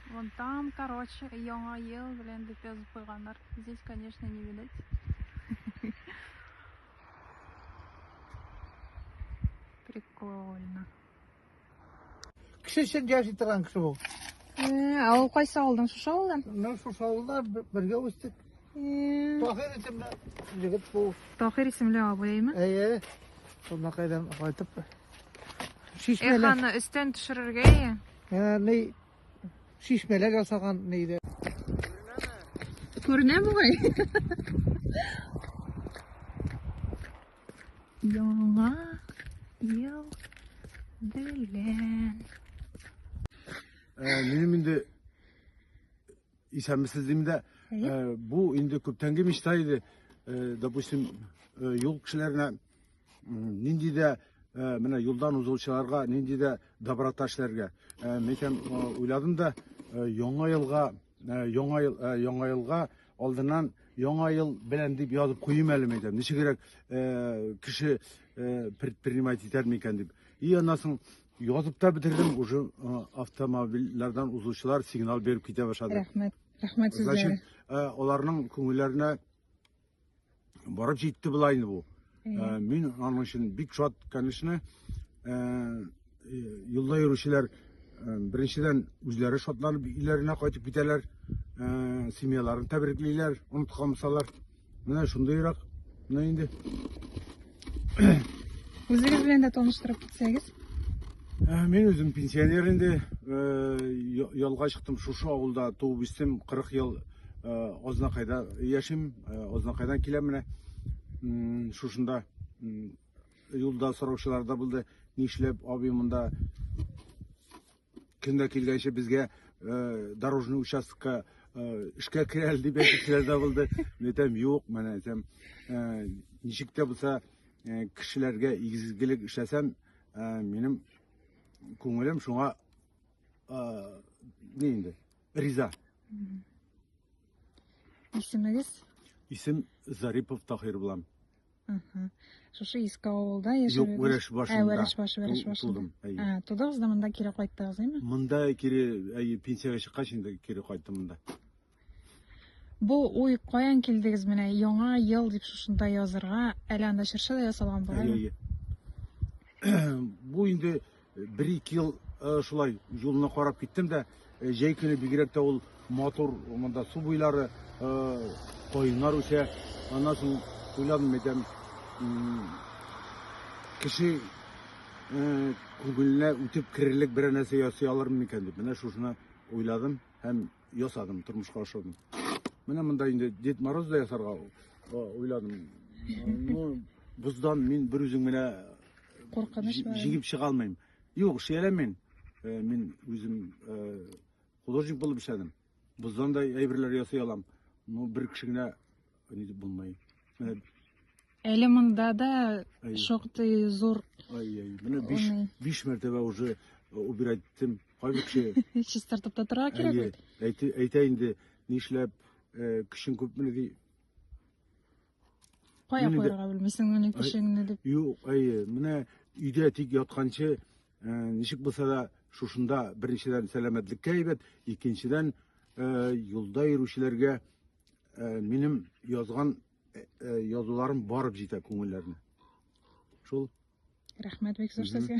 Вон там, короче, яңа ел белән дип язып куйганнар. Здесь, конечно, не видать. Прикольно. Кеше өчен яши торган кеше бу. Ә ул кайсы авылдан? Шушы авылдан? Мин шушы авылда бергә үстек. Тахир исемле егет бу. Тахир исемле абыймы? Әйе. Шунда кайдан кайтып Шишмәләр. Эх, аны өстен төшерергә ие. Ә, ни шишмәләр ясаган нидә. Күренә бугай. Яңа ел белән. Ә, минем инде исәнмесез дим дә, ә, бу инде күптәнге мечта иде. Ә, допустим, ә, юл кешеләренә нинди дә э, менә юлдан узучыларга нинди дә доброта эшләргә э, микән уйладым да э, яңа елга яңа ел яңа елга алдыннан яңа ел белән дип язып куйым әле мәйтәм ничегрәк кеше предпринимать итәр микән дип и аннан соң язып та бетердем уже автомобильләрдән узучылар сигнал биреп китә башлады рәхмәт рәхмәт сезгә значит аларның күңелләренә Барып җитте була инде бу. Ә, Мин аның өчен бик шат, конечно. Ә, э, Юлда йөрүчеләр э, беренчедән үзләре шатланып өйләренә кайтып китәләр, ә, семьяларын тәбриклиләр, оныткан булсалар. Менә шундыйрак. Менә инде. Үзегез белән дә таныштырып китсәгез. Ә, Мин үзем пенсионер инде, э, я- ялга чыктым, шушы авылда туып үстем, 40 ел э, Азнакайда яшим, э, Азнакайдан киләм менә. М, Шушында м, юлда сораучылар да булды, нишләп абый монда Көн дә килгәнче безгә дорожный участокка эшкә керә әле дип әйтүчеләр дә булды. Мин әйтәм, юк, менә әйтәм, ничек тә булса кешеләргә игезгелек эшләсәм, минем күңелем шуңа ни инде, риза. Исемегез? Исем Зарипов Таһир булам. Шушы иске авылда яшәдегез? Юк, Вәрәш башында. Ә, Вәрәш башы, Вәрәш башында. Тудым, әйе. Ә, тудыгыз да монда кире кайттыгыз, әйме? Монда кире, әйе, пенсиягә чыккач инде кире кайттым монда. Бу уй каян килдегез менә яңа ел дип шушында язырга, әле анда чыршы да ясалган бугай. Әйе, әйе. Бу инде Бер-ике ел шулай юлны карап киттем дә, җәй көне бигрәк тә ул матур, монда су буйлары, каеннар үсә. Аннан соң уйладым, әйтәм, кеше күңеленә үтеп керерлек берәр нәрсә ясый алырмын микән дип. Менә шушыны уйладым һәм ясадым, тормышка ашырдым. Менә монда инде Дед Мороз да ясарга уйладым. Ну, боздан мин бер үзем генә куркынычмы? Җигеп чыга алмыйм. Юк, шияләм мин. Э, мин үзем э, художник булып эшләдем. Боздан да әйберләр ясый алам. Ну, бер кеше генә Ни дип булмый. Менә Әле монда да Әй. шактый зур ай-яй, менә биш, Аны. биш мәртәбә уже э, убирать иттем. Кайбер кеше чистартып та торырга кирәк әйе, бит. әйте- әйтә инде, нишләп э, көчең күпмени ди. Кая мине дә- куярга белмисең моны Ай. кешеңне дип. Юк, әйе, менә өйдә тик ятканчы э, ничек булса да шушында беренчедән сәламәтлеккә әйбәт, икенчедән э, юлда йөрүчеләргә Э, минем язган э, э, язуларым барып җитә күңелләренә. Шул. Рәхмәт бик зур сезгә.